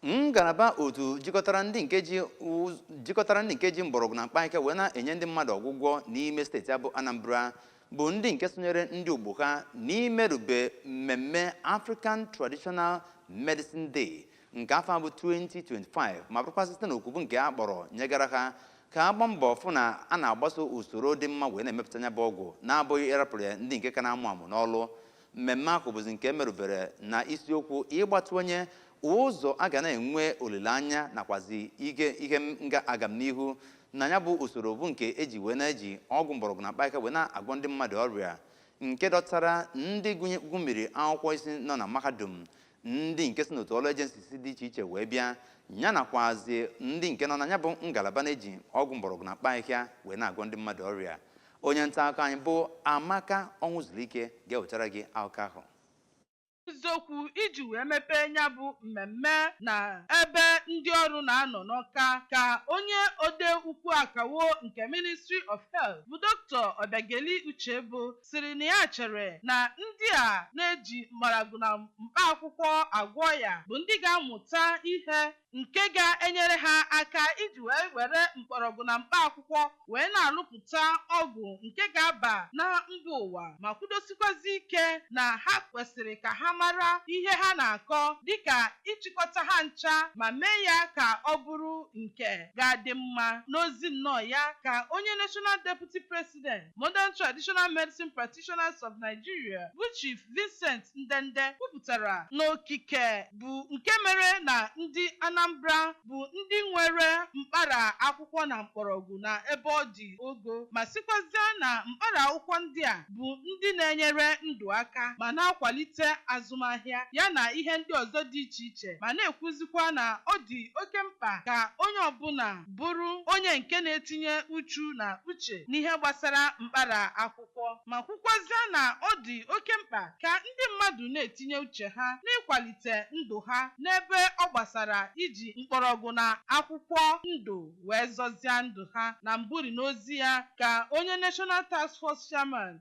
ngalaba otu jikọtara ndị nke ji mgbọrọgwụ na mkpaahịhịa wee na-enye ndị mmadụ ọgwụgwọ n'ime steeti a bụ anambra bụ ndị nke sonyere ndị ogbo ha n'imerube mmemme african traditional medicine day nke afọ a bụ 2025 ma bụrụkwa site n'oku bụ nke a kpọrọ nyegara ha ka a gbaa mbọ fụ na a na-agbaso usoro dị mma wee na-emepụta ya bụ ọgwụ na-abụghị ịrapụrụ ya ndị nke ka na-amụ amụ n'ọlụ mmemme ahụ bụzi nke merubere na isiokwu ịgbatịwanye ụzọ a ga na-enwe olileanya nakwazi ihe nga agamnihu na ya bụ usoro bụ nke e ji wee na-eji ọgwụ mgbọrọgwụ na mkpaahịhịa wee na-agwọ ndị mmadụ ọrịa nke dọtara ndị gụmiri akwụkwọ isi nọ na mahadum ndị nke si n'otu ọrụ agencies dị iche iche wee bịa ya nakwazi ndị nke nọ na ya bụ ngalaba na-eji ọgwụ mgbọrọgwụ na mkpaahịhịa wee na-agwọ ndị mmadụ ọrịa onye nta akụkọ anyị bụ amaka ọnwụzulike ga-ewetara gị akụkọ ahụ n'ozi okwu iji wee mepee ya bụ mmemme na ebe ndị ọrụ na-anọ n'ọka ka onye ode ukwu akawo nke ministry of health bụ dr ọbịageli uchebo sịrị na ya chere na ndị a na-eji mgbọrọgwụ na mkpa akwụkwọ agwọ ọya bụ ndị ga-amụta ihe nke ga-enyere ha aka iji wee were mkpọrọgwụ na mkpa akwụkwọ wee na-alụpụta ọgwụ nke ga-aba na mba ụwa ma kwudosikwazi ike na ha kwesịrị ka ha mara ihe ha na-akọ dịka ịchịkọta ha ncha ma mee ya ka ọ bụrụ nke ga-adị mma. N'ozi nnọọ ya ka onye National Deputy Pres President, Modern Traditional Medicine Practitioners of Nigeria, bụ Chief Vincent Ndende kwupụtara na okike bụ nke mere na ndị Anambra bụ ndị nwere mkpara akwụkwọ na mkpọrọgwụ na ebe ọ dị ogo ma sịkwazịa na mkpara akwụkwọ ndị a bụ ndị na-enyere ndụ aka ma na-akwalite azụmahịa ya na ihe ndị ọzọ dị iche iche ma na-ekwuzikwa na ọ dị oke mkpa ka onye ọbụla bụrụ onye nke na-etinye uchu na uche n'ihe gbasara mkpara akwụkwọ ma kwukwazịa na ọ dị oke mkpa ka ndị mmadụ na-etinye uche ha n'ịkwalite ndụ ha n'ebe ọ gbasara iji mkpọrọgwụ na akwụkwọ ndụ wee zọzịa ndụ ha. Na mbụrị n'ozi ya ka onye National Task Force Chairman,